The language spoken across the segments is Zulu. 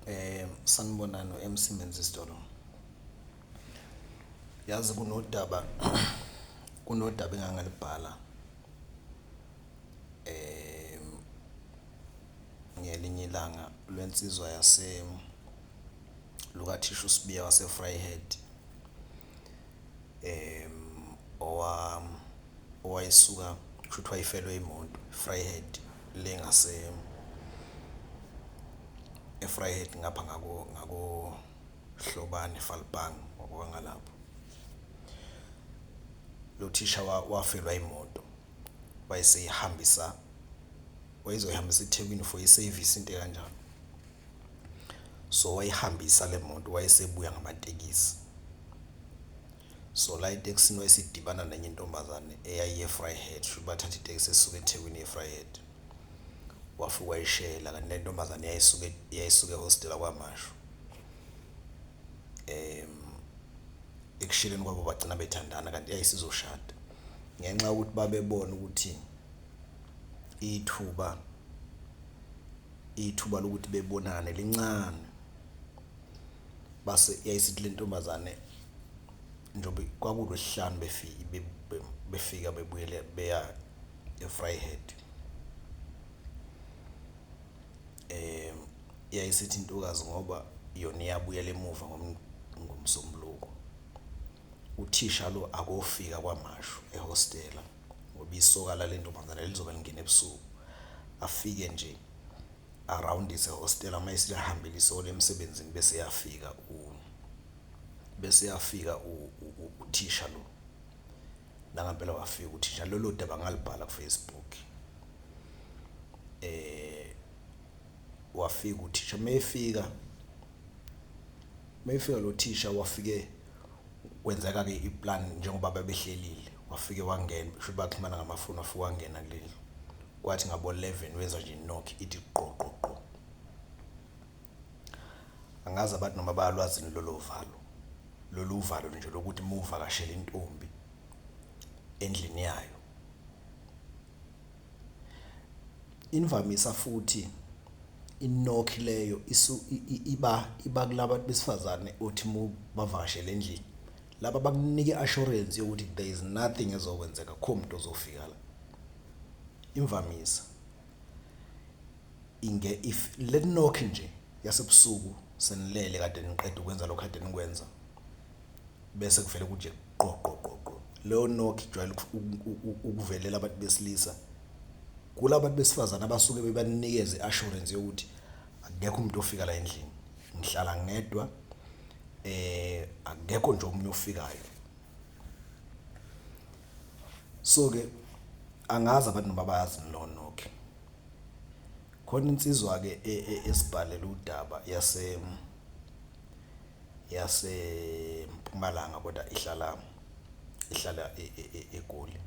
Eh sanibonani uMC Menzi Sithole. Yazi kunodaba kunodaba engangalibhala eh ngelinye ilanga lwensizwa yase lukathisha uSibiya wase Vryheid. um owayesuka kusho ukuthi wayefelwe imoto e-Vryheid le ngase e-Vryheid ngapha ngako ngakoHlobane Falpang wabuka ngalapho. Lo thisha wafelwa imoto wayeseyihambisa wayezoyihambisa eThekwini for isevisi into ekanjalo. So wayihambisa le moto wayesebuya ngamatekisi. So la etekisini wayesidibana nenye intombazane eyayiye Vryheid, shuthi bathatha itekisi esuka eThekwini iye Vryheid. Wafika wayishela kanti le ntombazane yayisuke yayisuke ehostela KwaMashu. Ekusheleni kwabo bagcina bethandana kanti yayisizoshada. Ngenxa yokuthi babebona ukuthi ithuba. ithuba lokuthi bebonane lincane base yayisithi le ntombazane njengoba kwakulwesihlanu befike befika bebuyele beya e-Vryheid um yayisithi intokazi ngoba yona iyabuyela emuva ngomsombuluko uthisha lo akofika kwamashu ehostela ngoba isoka lale ntombazane lizobe lingena ebusuku afike nje arawundise hostela uma esilihambile isole emsebenzini bese yafika u bese yafika uthisha lo nangampela wafika uthisha lolo daba ngalibhala kufacebook eh wafika uthisha mayefika mayefika lo thisha wafike Kwenzeka-ke i-plan njengoba babehlelile, wafike wangena, kusho ukuthi baxhumana ngamafoni, wafike wangena kuleli. Kwathi ngabo-eleven wezwa nje inokhi ithi gqo gqo gqo. Angazi abantu noma bayalwazi yini lolo valo, lolu uvalo nje lokuthi uma uvakashela intombi endlini yayo. Imvamisa futhi inokhi leyo iba iba kula bantu besifazane othi uma ubavakashele endlini, laba bakunike i-assurance yokuthi there is nothing ezokwenzeka akukho muntu ozofika la. Imvamisa if le nokhi nje yasebusuku senilele kade niqeda ukwenza lokhu ekade nikwenza. bese kuvele kunje qoqoqoqo leyo knock ijwayele ukuvelela abantu besilisa kulabantu besifazane abasuke bebanikeze assurance yokuthi akekho umuntu ofika la endlini ngihlala ngedwa eh akekho nje omunye ofikayo so ke angazi abantu babazi lo knock khona insizwa ke e, e, esibhalela udaba yase yaseMpumalanga kodwa ihlala ihlala eGoli.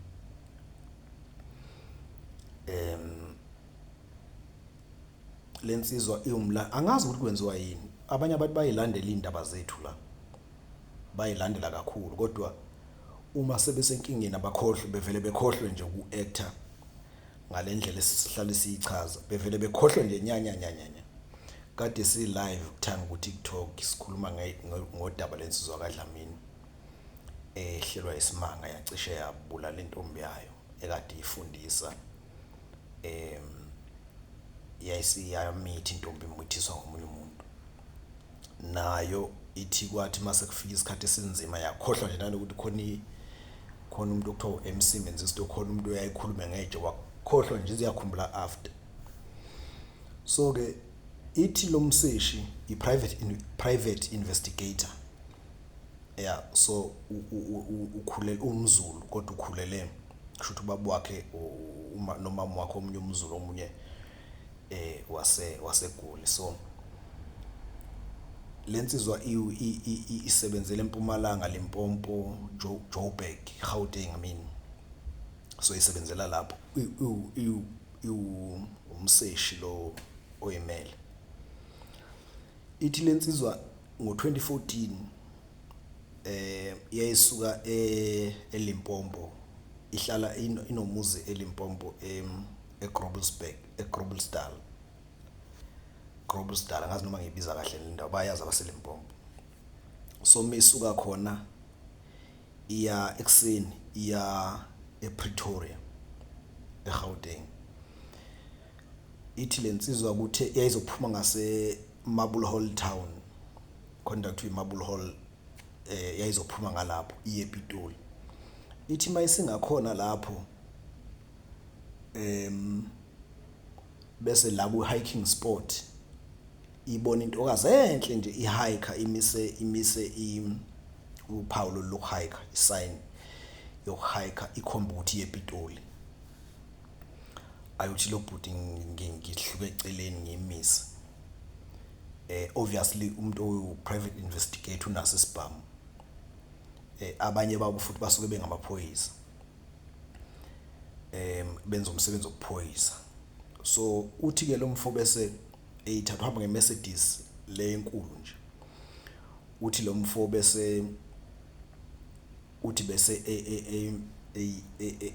Le nsizwa iwumla angazi ukuthi kwenziwa yini. Abanye abantu bayilandela iy'ndaba zethu la, bayilandela kakhulu kodwa uma sebesenkingeni abakhohlwe bevele bekhohlwe nje uku-act-a. ngale ndlela esihlale siyichaza bevele bekhohlwe nje nyanyanyanyanya kade si-live kuthanga ku-tiktok sikhuluma ngodaba lensizwa kadlamini ehlelwa isimanga yacishe yabulala intombi yayo ekade ifundisa um yayisiyamithi intombi imithiswa ngomunye umuntu nayo ithi kwathi mase kufika isikhathi esinzima yakhohlwa nje nanokuthi khona khona umuntu okuthiwa u-MC Menzisto khona umuntu oyayikhulume ngeje wakhohlwa nje ziyakhumbula after so ke ithi lo mseshi i-private private investigator ya so ukhulele umzulu kodwa ukhulele kusho ukuthi ubaba wakhe uma nomama wakhe omunye umzulu omunye eh wase wasegoli so lensizwa isebenzele empumalanga Limpopo Joburg Gauteng I mean so isebenzela lapho umseshi lo oyimele ithi lensizwa ngo2014 eh yayisuka eh, eLimpopo ihlala inomuzi eLimpopo em eGroblersburg eGroblersdal Groblersdal ngazi noma ngibiza kahle le ndawo bayazi abaseLimpopo so misuka khona iya ekuseni iya ePretoria eGauteng ithi lensizwa ukuthi yayizophuma ngase Marble Hall Town khona kuthiwa iMarble Hall eh yayizophuma ngalapho iye ePitoli ithi mayisingakhona lapho em bese la ku hiking spot ibona intokazi enhle nje ihiker imise imise uphawu lokuhiker isign yokuhiker ikhomba ukuthi yepitoli ayothi lo bhuti ngihluke eceleni ngimise eh obviously umuntu owu private investigator unaso isibhamu eh abanye babo futhi basuke bengamaphoyisa em benza umsebenzi wokuphoyisa so uthi ke lo mfo bese eyithatha uhamba ngeMercedes le enkulu nje uthi lo mfo bese uthi bese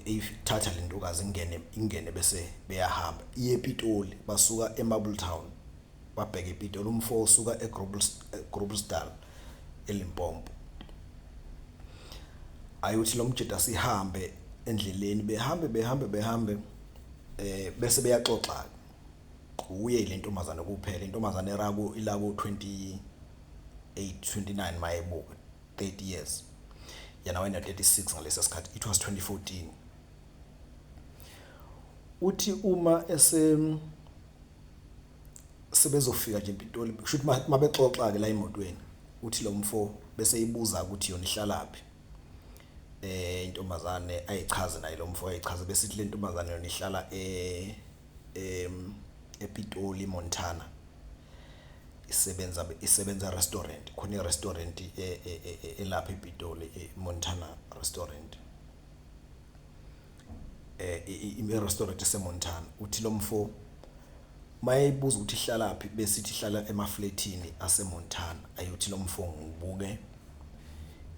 eyithatha e, e, e, lentokazi ingene ingene bese beyahamba iye ePitoli basuka eMarble Town Wabheka ePitoli umfo osuka eGroblersdal, eLimpopo. Ayothi lo mjita sihambe endleleni, behambe behambe behambe eh bese beyaxoxa kuye ile ntombazane kuphela intombazane erako ilako 28 29 mayebuka 30 years yena wayena 36 ngalesi sikhathi it was 2014 uthi uma ese sebezofika nje empintoli kusho ukuthi mabexoxa-ke la emotweni uthi lo mfo bese ibuza ukuthi yona ihlalaphi eh intombazane ayichaze naye lo mfo ayichaze bese ithi le ntombazane yona ihlala e em ePitoli Montana isebenza isebenza restaurant khona irestaurant e, e, e, elapha ePitoli Montana restaurant eh i-restaurant eseMontana uthi lo mfo mayeyibuza ukuthi ihlalaphi bese ithi ihlala emaflethini aseMontana ayothi lo mfo ngibuke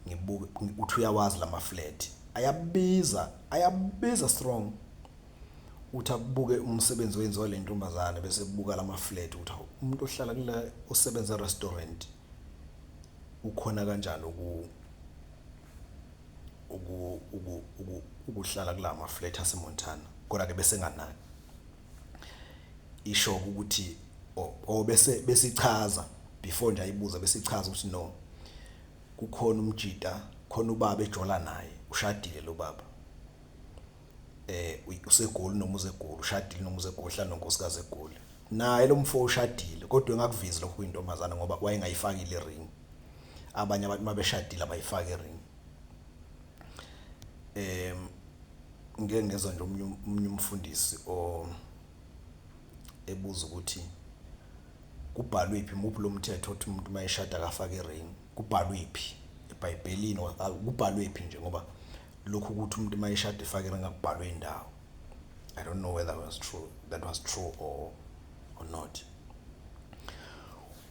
ngibuke uthi uyawazi lama flat ayabiza ayabiza strong uthi akubuke umsebenzi owenziwa le ntombazane bese kubuka lama flat ukuthi umuntu ohlala kula osebenza restaurant ukhona kanjani uku ukuhlala kula maflat asemontana kodwa-ke besenganaki isho ukuthi or bese besichaza before nje ayibuza besichaza ukuthi no kukhona umjita khona ubaba ejola naye ushadile lo baba eh usegoli noma uzegoli ushadile noma uzegoli hlala nonkosikazi egoli naye lo mfo ushadile kodwa engakuvezi lokho kuyintombazana ngoba wayengayifakile ring abanye abantu mabeshadile abayifaki ring Em ngike ngezwa nje omunye omunye umfundisi o ebuza ukuthi kubhalwephi muphi lo mthetho othi umuntu uma eshada akafake i-ring, kubhalwephi ebhayibhelini or kubhalwephi nje ngoba lokhu ukuthi umuntu uma eshada efake i-ring akubhalwe ndawo. I don't know whether was true, that was true or or not.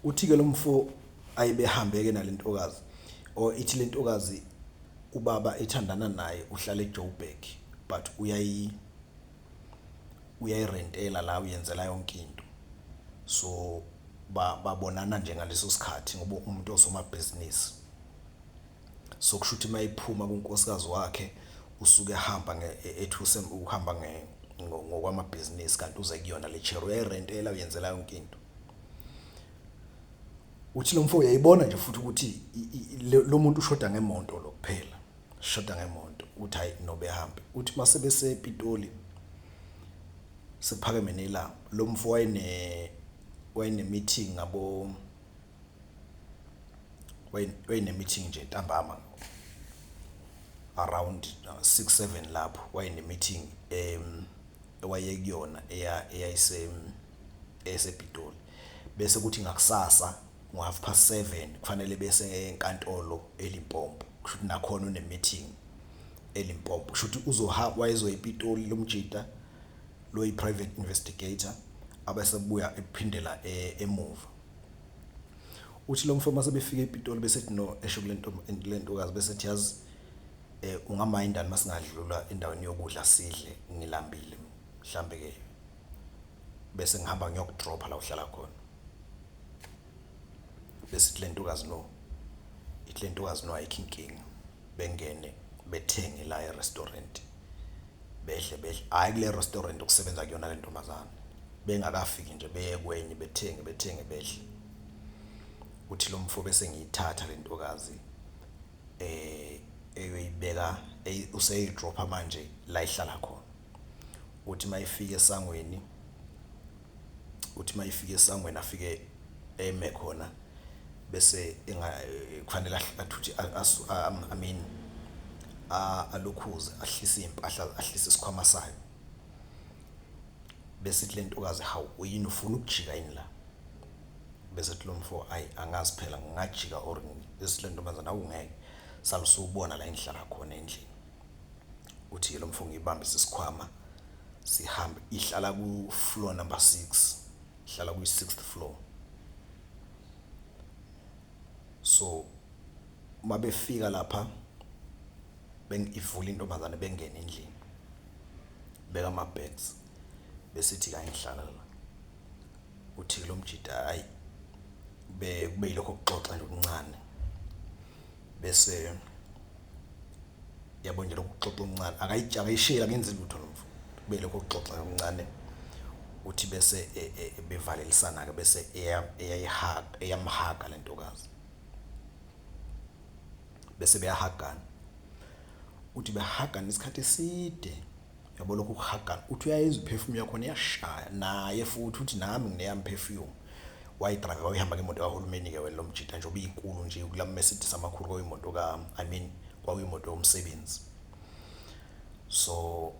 Uthi ke lomfo ayebehambeke nalentokazi or ithi lentokazi ubaba ethandana naye uhlala eJoburg but uyayi uyayirentela la uyenzela yonke into so babonana nje ngaleso sikhathi ngoba umuntu osomabhizinisi so kusho ukuthi mayiphuma kunkosikazi wakhe usuke ehamba e-, ethuse uhamba ngokwamabhizinisi kanti uze kuyona le chair uyayirentela uyenzela yonke into uthi lomfo uyayibona nje futhi ukuthi lo muntu ushoda ngemonto lo kuphela shoda ngemonto uthi hayi nobe hambe uthi mase bese Pitoli sekuphakeme nelanga lo mfo wayene wayene meeting ngabo wayene meeting nje ntambama around 6 uh, 7 lapho wayene meeting em ewayekuyona eya eyayise esePitoli bese kuthi ngakusasa ngo half past 7 kufanele bese enkantolo eLimpopo kusho ukuthi nakhona une meeting eLimpopo kusho ukuthi uzohamba wayezoya ePitoli lomjita loyi private investigator abesebuya ephindela e, emuva uthi lo mfama sebefika ePitoli bese ethi no esho kulento lentokazi bese ethi yazi eh ungamayindani masingadlula endaweni yokudla sidle ngilambile mhlambe ke bese ngihamba ngiyokudropha la uhlala khona bese ithi le ntokazi no ithi le ntokazi no ayikho inkinga bengene bethenge la e-restaurant bedle bedle hhayi kule restaurant okusebenza kuyona le ntombazane bengakafiki nje beye kwenye bethenge bethenge bedle kuthi lo mfo bese ngiyithatha le ntokazi um eyoyibeka useyidropha manje la ihlala khona uthi mayifika esangweni uthi mayifika esangweni afike eme khona bese enga kufanele athuthi I mean alukhuze ahlise impahla ahlise isikhwama sayo bese ithi lentokazi hawu uyini ufuna ukujika yini la bese ethi lomfo ay angazi phela ngingajika or bese lentombazana awungeke salusubona la engihlala khona endlini uthi lo mfo ngiyibambise isikhwama sihambe ihlala ku floor number 6 ihlala kwi 6th floor so uma befika lapha bengivula intombazane bengena endlini beka ama bags besithi la ngihlala la uthi lo mjita hayi be kube yilokho kuxoxa nje okuncane bese yabo nje lokhu kuxoxa umncane akayitsha akayishela ngenzi lutho lo mfo kube lokho kuxoxa umncane uthi bese e, e, e, bevalelisana ke bese eyayihaga eyamhaga lentokazi bese beyahagana uthi behagana isikhathi eside Yabo lokhu kuhagana uthi uyayizwa iperfume yakhona iyashaya naye futhi uthi nami ngineyami perfume wayidrive wayihamba ngemoto kahulumeni ke wena lomjita nje obiyinkulu nje kula Mercedes amakhulu kwayimoto ka I mean kwakuyimoto yomsebenzi so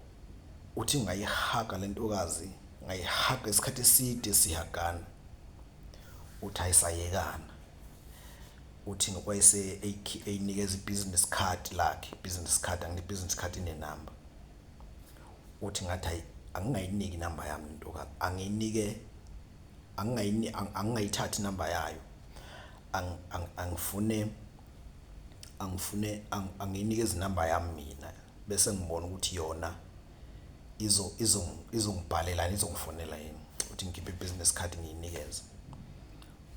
uthi ngayihaga lentokazi ngayihaga isikhathi eside sihagana uthi ayisayekana uthi ngokwayise eyinikeza i-business card lakhe business card angine business card ine number uthi ngathi ayi angingayiniki number yami intokazi angiyinike angingayini angingayithathi number yayo angifune angifune angiyinike izinamba yami mina Bese ngibona ukuthi yona izo izo izongibhalelani izongifonela yini ukuthi ngikhiphe business card ngiyinikeze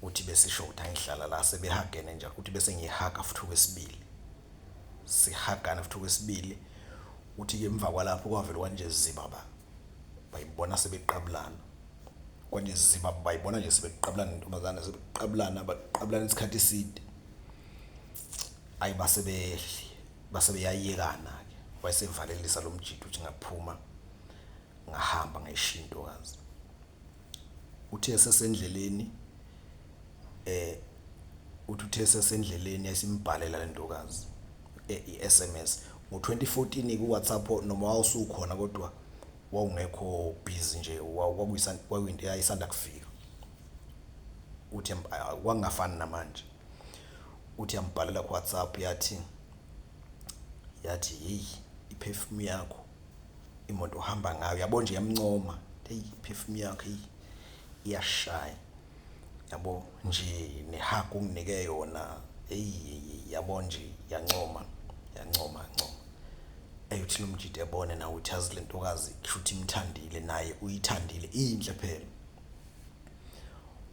uthi besisho ukuthi angihlala la sebehagene nje uthi bese ngihaga futhi okwesibili sihagana futhi okwesibili uthi ke emva kwalapho kwavele kwanje ziba ba bayibona sebeqabulana kwanje ziba bayibona nje sebeqabulana intombazane sebeqabulana baqabulana isikhathi eside ayibasebehli Base beyayekana-ke, wayesevalelisa lo mjita ukuthi ngaphuma ngahamba ngayishiya intokazi. Uthe esesendleleni eh uthi uthe esesendleleni esimbhalela le ntokazi eh, i-SMS ngo-2014 ku-WhatsApp noma wawusukhona kodwa wawungekho busy nje kwakuyinto eyayisanda kufika. Uthi kwakungafani namanje. uthi yambhalela ku WhatsApp yathi yathi hey iperfume yakho imoto ohamba ngayo yabo nje yamncoma hey iperfume yakho hey iyashaya yabo nje nehug unginike yona hey yabo nje yancoma yancoma ncoma eyothi lomjide ebone nawe uthi azi lentokazi kushuthi imthandile naye uyithandile inhle phela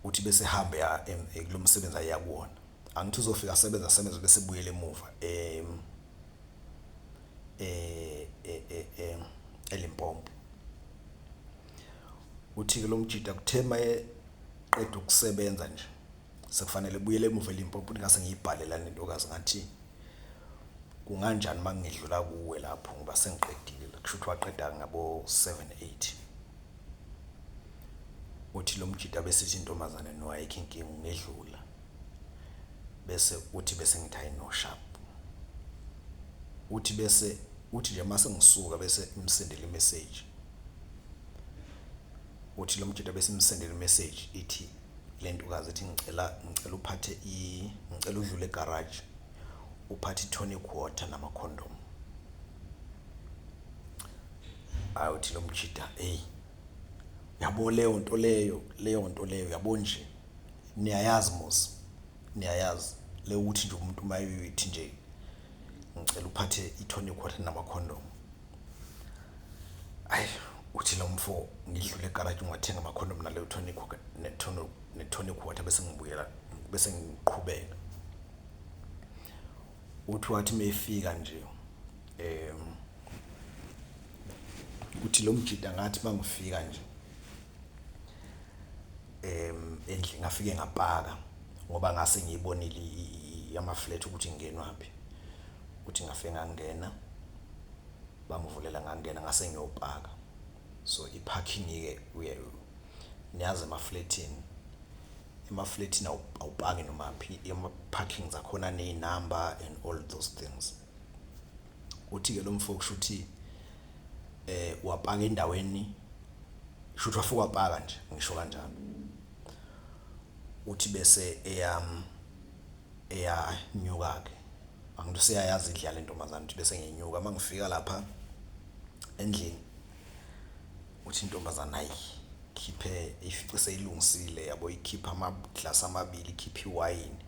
Uthi bese hamba eya em, eh, kulo msebenzi ayeya kuwona. Angithi uzofika asebenze asebenze bese ebuyela emuva em, eh, eh, eh, eh, eLimpopo. Uthi-ke lo mjita kuthe uma eqeda ukusebenza nje sekufanele ebuyele emuva eLimpopo uthi ngase ngiyibhale lana intokazi ngathi kunganjani uma ngidlula kuwe lapho ngoba sengiqedile kusho ukuthi waqeda ngabo-seven eight. Uthi lo mjita bese ithi intombazane no ayikho inkinga ungedlula. Bese uthi bese ngithi hayi no sharp. Uthi bese uthi nje mase ngisuka bese imsendela imessage. Uthi lo mjita bese imsendela imessage ithi le ntokazi ithi ngicela ngicela uphathe i ngicela udlule egarage uphathe i-tonic water nama-condom. Hayi uthi lo mjida eyi. Yabo leyo nto leyo, leyo nto leyo yabo nje. Niyayazi mos, niyayazi le ukuthi nje umuntu uma eyoyithi nje ngicela uphathe i-tonic water namakhondomu. Ayi uthi lo mfo ngidlule egaraji ngiwathenga amakhondomu naleyo tonic ne-tonic ne-tonic water bese ngibuyela bese ngiqhubeka. uthi wathi mefika nje em ukuthi lo mjida ngathi mangifika nje em endlini ngafike ngapaka ngoba ngase ngiyibonile ama flat ukuthi ingenwaphi ukuthi ngafe ngangena bangivulela ngangena ngase ngiyopaka So i parking ke uye niyazi emaflethini emaflethini awupaki nomaphi ema parking zakhona ne number and all those things uthi ke lomfo kushuthi eh wapaka endaweni shuthi wafika wapaka nje ngisho kanjalo uthi bese eyam eyanyuka ke angithi useyayazi indlela lentombazane uthi bese ngenyuka mangifika lapha endlini uthi intombazana ayi khiphe ifice seyilungisile yabo ikhipha amaglasi amabili ikhipha iwayini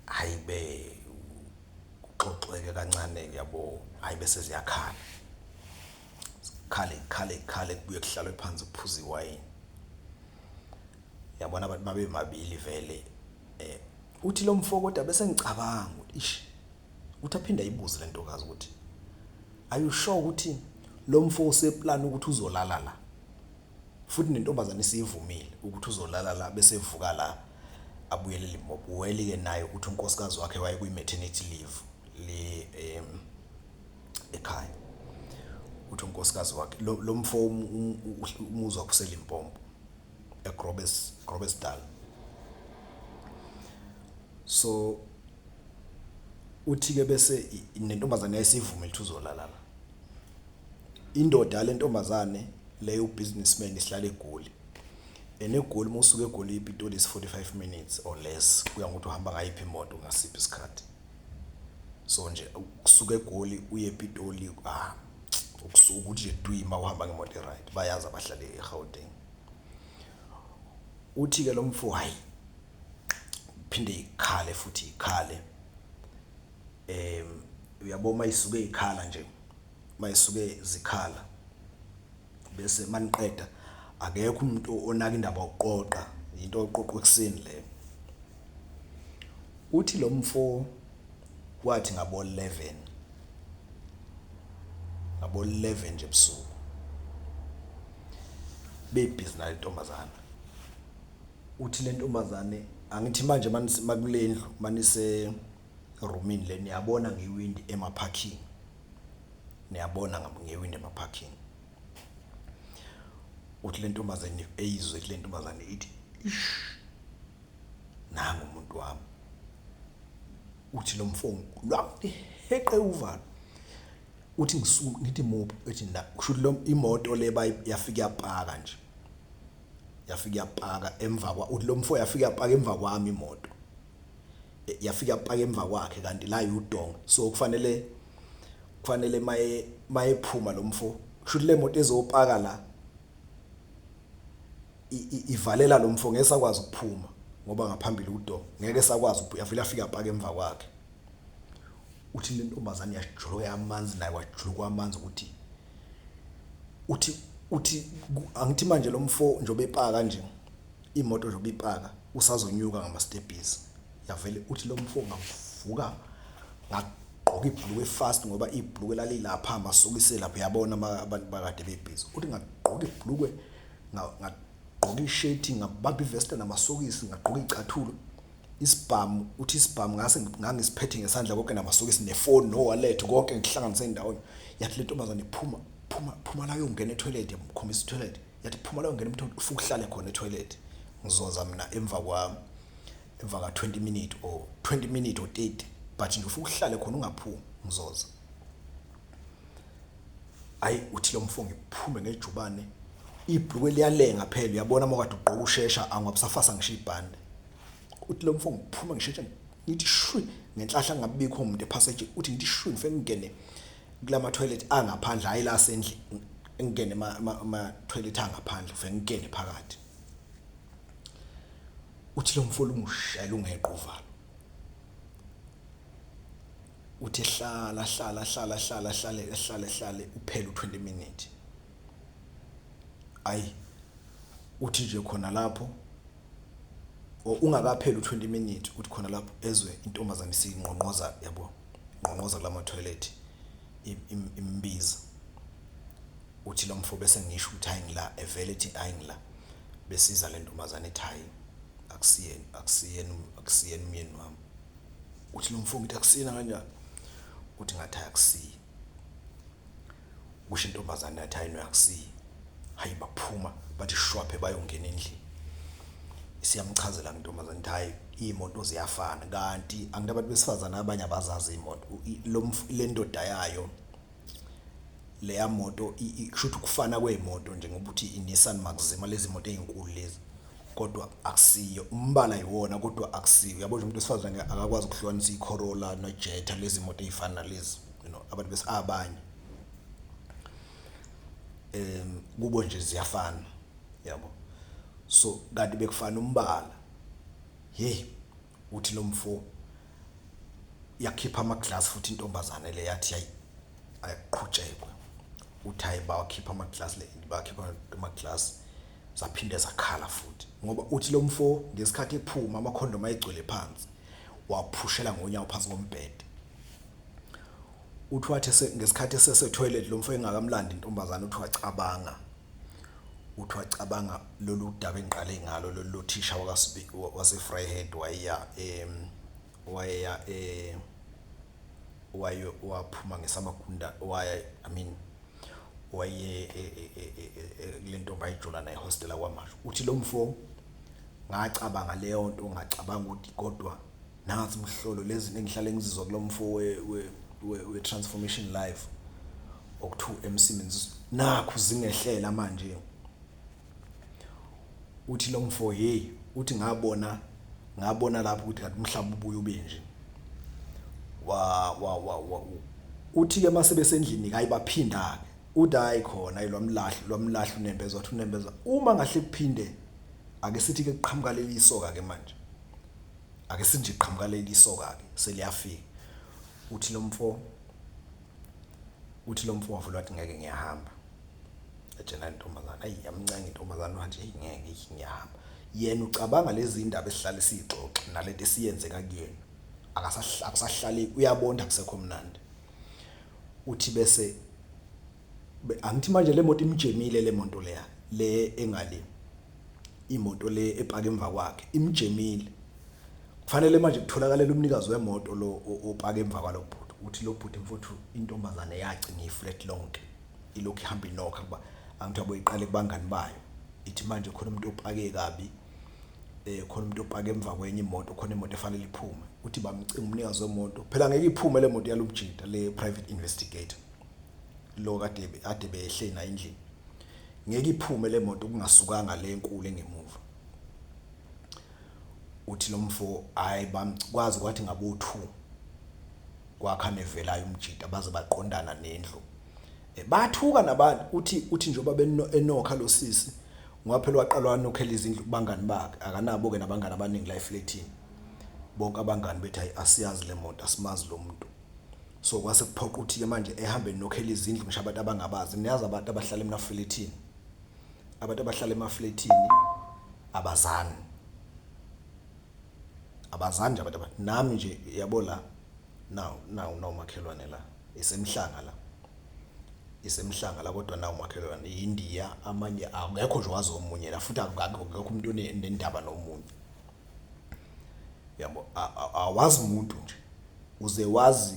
hayi be kuxoxeke kancane yabo hayi bese ziyakhala khale khale khale kubuye kuhlalwe phansi kuphuza iwayini yabona abantu babe mabili vele eh uthi lo mfo kodwa bese ngicabanga ish Ukuthi aphinde ayibuze le ntokazi ukuthi are you sure ukuthi lo mfo useplan ukuthi uzolala la futhi nentombazane isivumile ukuthi uzolala la bese evuka la abuyele limpopo wayelike naye ukuthi unkosikazi wakhe waye kwi-maternity leave le um ekhaya ukuthi unkosikazi wakhe lo mfo um, um, um, umuzwa kuselimpompo egrobes grobesdal so uthike bese nentombazane yayisivumela ukuthi uzolala la indoda yale ntombazane leyo ubusinessman isihlala egoli and egoli uma usuke egoli ipitoli is 45 minutes or less kuya ngokuthi uhamba ngayiphi imoto ngasiphi isikhathi so nje ukusuka egoli uye epitoli ah ukusuka ukuthi nje duyima uhamba ngemoto e-right bayazi abahlale egauteng uthi-ke lo mfo hhayi iphinde ikhale futhi ikhale em uyabo uma isuke ikhala nje uma isuke zikhala bese maniqeda akekho umuntu onaka indaba yokuqoqa into oqoqwa ekuseni le uthi lo mfo wathi ngabo 11 ngabo 11 nje ebusuku bebhizi nayo intombazana uthi lentombazane angithi manje manise makulendlu manise roomini le niyabona ngewindi ema parking niyabona ngam- ngewindi ema parking uthi lentombazane eyizwe ithi lentombazane ithi ish nangu umuntu wami uthi lo mfo lwamheqe uvalo uthi ngisu ngithi muphi ethi na kusho ukuthi lo imoto le bayi- yafika yapaka nje yafike yapaka emva kwa uthi lo mfo yafike yapaka emva kwami imoto E- yafike yapaka emva kwakhe kanti la yudonga so kufanele kufanele maye mayephuma lo mfo kusho ukuthi le moto ezopaka la i- i- ivalela lo mfo ngeke sakwazi ukuphuma ngoba ngaphambili udonga ngeke sakwazi ukuphu- yafike yafika yapaka emva kwakhe uthi le ntombazane yajuluka yamanzi naye wajuluka amanzi ukuthi uthi uthi angithi manje lo mfo njobe epaka nje imoto njobe ipaka usazonyuka ngama stepbies yavele uthi lo mfo ngavuka ngagqoka ibhulukwe fast ngoba ibhulukwe lalilapha masokise lapha yabona abantu bakade bebhizi uthi ngagqoka ibhulukwe ngagqoka ishirt ngabamba ivesta namasokisi ngagqoka icathulo Isibhamu, uthi isibhamu ngase ngangisiphethe ngesandla konke namasokisi nefoni nowalethi konke ngikuhlanganise ndawonye. Yathi le ntombazane phuma, phuma, phuma la uyongena ethoyilethi yamkhombisa ithoyilethi. Yathi phuma la uyongena emthoyilethi ufuke uhlale khona ethoyilethi. Ngizoza mina emva kwami emva ka 20 minute or 20 minute or 30 but nje ufuke uhlale khona ungaphumi ngizoza. hayi uthi lo mfo ngiphume ngejubane ibhluke liyalenga phela uyabona uma kade ugqoka ushesha angwabusafasa ngisho ibhande uthi lo mfo ngiphume ngisheshe ngithi shwi ngenhlahla ngabikho umuntu epassage uthi ngithi shwi ngifike ngingene kulama toilet angaphandle hayi la sendle ngingene ama toilet angaphandle ngifike ngingene phakathi uthi lo mfo lungushela ungeqo uvalo Uthe hlala hlala hlala hlala hlale hlale hlale uphele u-20 minute. Ayi uthi nje khona lapho or ungakapheli u-20 minute uthi khona lapho ezwe intombazane isingqongqoza yabo ngqongqoza kulama toilet imbiza uthi lo mfo bese ngisho ukuthi hayi ngila evele ethi hayi ngila besiza le ntombazane ethi hayi akusiyena akusiyena akusiyena umyeni wami uthi lo mfo ngithi akusina kanjani uthi ngathi akusiyi kusho intombazane yathi hayi noyakusiyi hayi baphuma bathi shwaphe bayongena endlini siyamchazela ngintombazane ukuthi hayi iy'moto ziyafana kanti angithi abantu besifazane abanye abazazi iy'moto lento dayayo. leya moto kusho ukuthi ukufana kwey'moto nje ngoba uthi i-Nissan Maxima lezi moto ey'nkulu lezi kodwa akusiyo umbala yiwona kodwa akusiyo uyabo nje umuntu wesifazane akakwazi ukuhlukanisa i-Corolla no-Jetta lezi moto ey'fana nalezi you know abantu bese abanye um kubo nje ziyafana yabo so kanti bekufana umbala hheyi. Uthi lomfo yakhipha ama glass futhi intombazane le yathi yayi ayaqhutshekwe. Uthi hayi bawakhipha ama glass le bakhipha ama glass zaphinde zakhala futhi ngoba uthi lo mfo ngesikhathi ephuma amakhondomu ayegcwele phansi waphushela ngonyawo phansi kombhede uthi wathi ngesikhathi esesetoilet lo mfo engakamlandi intombazane uthi wacabanga Uthi wacabanga lolu daba engiqale ngalo lolu lothisha waseVryheid wayeya wayeya waye waphuma ngesamagunda waye I mean waye kule ntombi ayejola nayo e-hostel yaKwaMashu. Uthi lo mfo ngacabanga leyo nto ngacabanga ukuthi kodwa. nansi mhlolo lezinto engihlale ngizizwa kulo mfo we-transformation live okuthiwa emsebenzis nakhu zingehlela manje uthi lo mfo hey uthi ngabona ngabona lapho ukuthi kanti umhlaba ubuye ube nje wa wa wa uthi ke mase besendlini kayi baphinda ke uthi hayi khona ilwamlahli lwamlahli unembeza wathi unembeza uma ngahle kuphinde ake sithi ke kuqhamuka leli soka ke manje Ake sinje qhamuka leli soka ke seliyafika. Uthi lomfo uthi lomfo wavula wathi ngeke ngiyahamba. Ejena intombazana ayi yamncenge intombazana wathi hey ngeke ngiyahamba. Yena ucabanga lezi indaba esihlale sixoxa nalento esiyenzeka kuyena. Akasahlali akusahlaleki uyabona akusekho mnandi. Uthi bese angithi manje le moto imjemile le moto leya le engale imoto le epaka emva kwakhe imjemile kufanele manje kutholakale umnikazi wemoto lo opaka emva kwalo bhuti ukuthi lo bhuti mfuthu intombazane yaci ngiflat lonke ilokhu ihamba inokha kuba angithi aboyiqale kubangani bayo ithi manje khona umuntu opake kabi eh khona umuntu opake emva kwenye imoto khona imoto efanele iphume uthi bamcinga umnikazi wemoto phela ngeke iphume le moto yalomjita le private investigator lo kade ade behle na endlini Ngeke iphume le moto kungasukanga le enkulu engemuva. Uthi lo mfo hhayi bamkwazi kwathi ngabo-two kwakhane evelayo umjita baze baqondana nendlu. Eh, bathuka nabantu uthi uthi njengoba beno- enokha lo sisi ngoba phela waqala wanokhela izindlu kubangani bakhe akanabo-ke nabangani abaningi la efletini. Bonke abangani bethi hhayi asiyazi le moto asimazi lo muntu. So kwase kuphoqa ukuthi-ke manje ehambe nokhela izindlu ngisho abantu abangabazi. Niyazi abantu abahlala emafilethini. Abantu abahlala emafilethini abazani. Abazani nje abantu aba nami nje yabo la nawu nawu nawu umakhelwane la isemhlanga la. Isemhlanga la kodwa nawu umakhelwane iNdiya amanye akekho nje owazi omunye la futhi akekho umuntu onendaba nomunye. yabo awazi umuntu nje uze wazi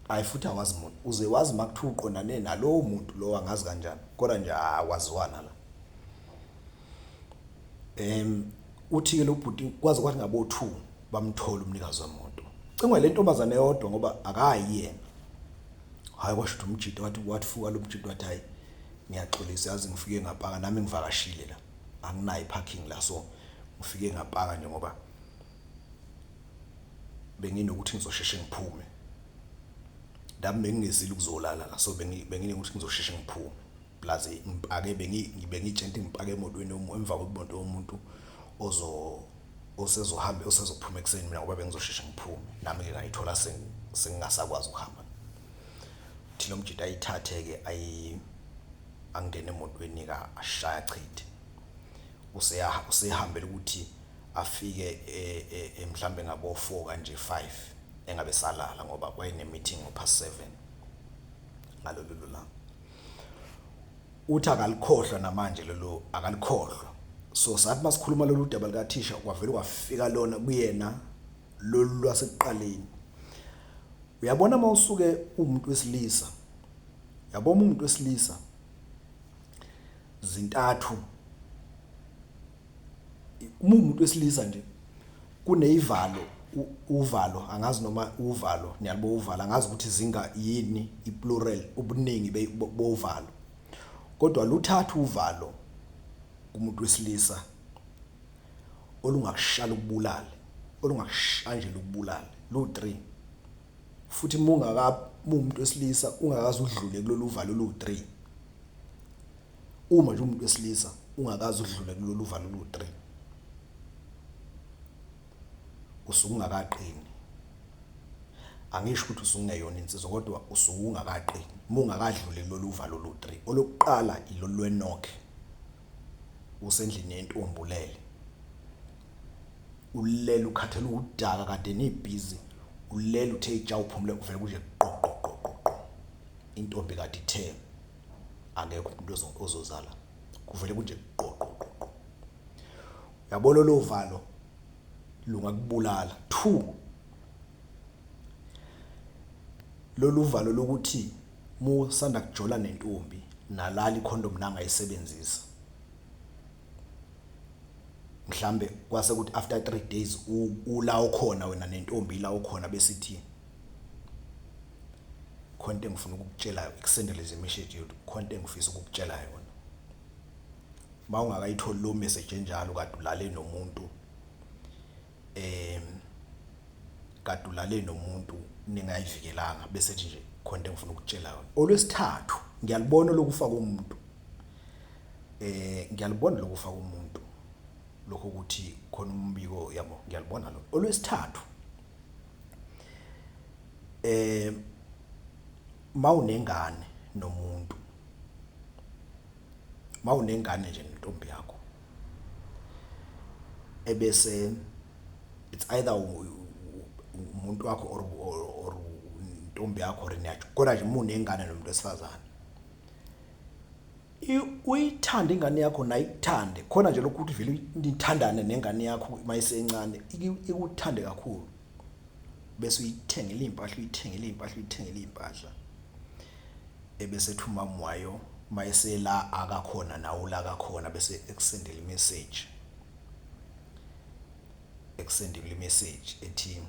hayi futhi awazi umuntu uze wazi uma kuthiwa uqondane nalowo muntu lowo angazi kanjani kodwa nje akwaziwana la um uthi-ke lo bhuti kwaze kwathi ngabo-two bamthola umnikazi wemoto cingwa le ntombazane yodwa ngoba akayi yena hhayi kwasho ukuthi umjito wathi wathi fuka lo mjito wathi hhayi ngiyaxolisa yazi ngifike ngapaka nami ngivakashile la anginayo iparking la so ngifike ngapaka nje ngoba benginokuthi ngizosheshe ngiphume nami bengingezile ukuzolala la so benginokuthi ngizosheshe ngiphume plus ngipake bengitshente ngipake emotweni emva kwemoto yomuntu ozo osezohamba osezophuma ekuseni mina ngoba bengizosheshe ngiphume nami-ke ngayithola sengingasakwazi ukuhamba thina umjita ayithathe-ke ayi angene emotweni ka ashaya chithe useyaha usehambela ukuthi afike e, e, e, mhlambe ngabo 4 kanje 5 engabe salala ngoba kwayine meeting ngo past 7 ngalolu lulanga uthi akalikhohlwa namanje lelo akalikhohlwa so sathi masikhuluma lolu daba likathisha kwavele kwafika lona kuyena lolu lwasekuqaleni uyabona mawusuke umuntu wesilisa Yabo uma umuntu wesilisa zintathu uma umuntu wesilisa nje kuneyivalo uvalo angazi noma uvalo niyalibo uvalo angazi ukuthi zinga yini iplural ubuningi bovalo kodwa luthatha uvalo kumuntu wesilisa olungakushala ukubulala olungakushanjela ukubulala lu 3 Futhi uma ungakab muwumuntu wesilisa ungakaze udlule kulolu uvalo oluwu-three, uma nje uwumuntu wesilisa ungakaze udlule kulolu uvalo oluwu-three, usuke ungakaqini. Angisho ukuthi usuke ungeyona insizwa kodwa usuke ungakaqini uma ungakadluli kulolu uvalo olu-three. Olokuqala ilolu lwenokhe, usendlini yentombi ulele. ulele ukhathele uwudaka kade nibhizi ulele uthe itsha uphumule kuvele kuje qoqoqoqoqo intombi kade ithe akekho umuntu ozozala kuvele kunje qoqoqoqo uyabona lo valo lungakubulala two lolu valo lokuthi musanda kujola nentombi nalali condom nangayisebenzisa mhlambe kwase ukuthi after 3 days ula okhona wena nentombi ila okhona bese ithi khonto engifuna ukukutshela ikusendele nje message yethu khonto engifisa ukukutshela yona mawungakayitholi lo message enjalo kade ulale nomuntu em kade ulale nomuntu ningayivikelanga bese ethi nje khona into engifuna ukutshela yona olwesithathu ngiyalibona lokufa komuntu eh ngiyalibona lokufa komuntu lokho ukuthi khona umbiko yabo ngiyalibona lo olwesithathu eh mawunengane nomuntu mawunengane nje nentombi yakho ebese it's either umuntu wakho or or intombi yakho or niyajho kodwa nje mune ingane nomuntu wesifazane uyithanda ingane yakho naye ikuthande khona nje lokhu ukuthi vele nithandane nengane yakho mayisencane ikuthande kakhulu bese uyithengela iy'mpahla uyithengela iy'mpahla uyithengela iy'mpahla ebese ethi umama wayo uma esela akakhona nawo la kakhona bese ekusendela imeseji ekusendela imeseji ethi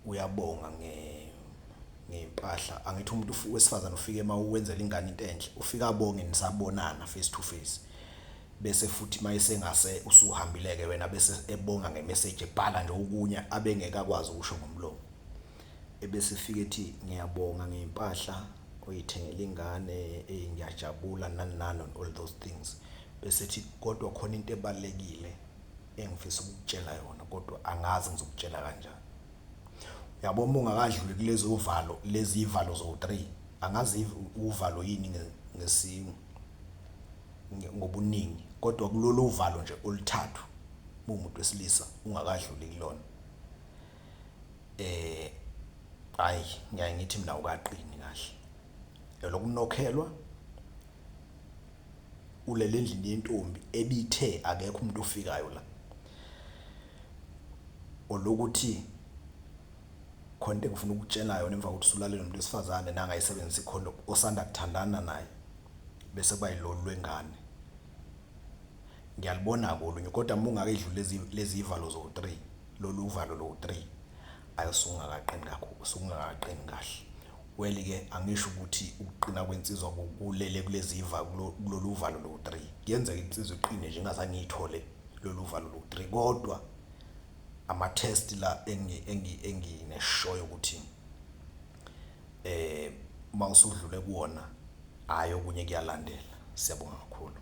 uyabonga nge ngempahla angithi umuntu wesifazane ufike uma uwenzela ingane into enhle ufika abonge nisabonana face to face Bese futhi mayesengase usuhambileke wena bese ebonga nge message ebhala nje okunye abengeke akwazi ukusho ngomlomo. Ebese efika ethi ngiyabonga ngeimpahla oyithengele ingane ey ngiyajabula nani nani and all those things. Bese ethi kodwa khona into ebalekile engifisa ukukutshela yona kodwa angazi ngizokutshela kanjani. Uyabo uma ungakadluli kulezovalo lezivalo zowu three angazi uvalo yini ngesi. ngobuningi kodwa kulolu uvalo nje oluthathu muwumuntu wesilisa ungakadluli kulona eh hayi ngiyaye ngithi mina ukaqini kahle elokunokhelwa ulele endlini yentombi ebithe akekho umuntu ofikayo la olokuthi khona into engifuna ukutshela yona emva kokuthi usulale nomuntu wesifazane nangayisebenzisa ikhondomu osanda kuthandana naye bese kuba yilolu lwengane ngiyalibona-ke olunye kodwa uma ungakayidluli lezi lezi ivalo zowu-three lolu uvalo lowu-three ayi usungakaqini kakhulu usungakaqini kahle well-ke angisho ukuthi ukuqina kwensizwa kulele kulezi iva kulolu uvalo lowu-three kuyenzeka insizwa iqine nje ingazange ngiyithole lolu uvalo lowu-three kodwa ama-test la engineshoyo ukuthi eh uma usudlule kuwona hayi okunye kuyalandela siyabonga kakhulu.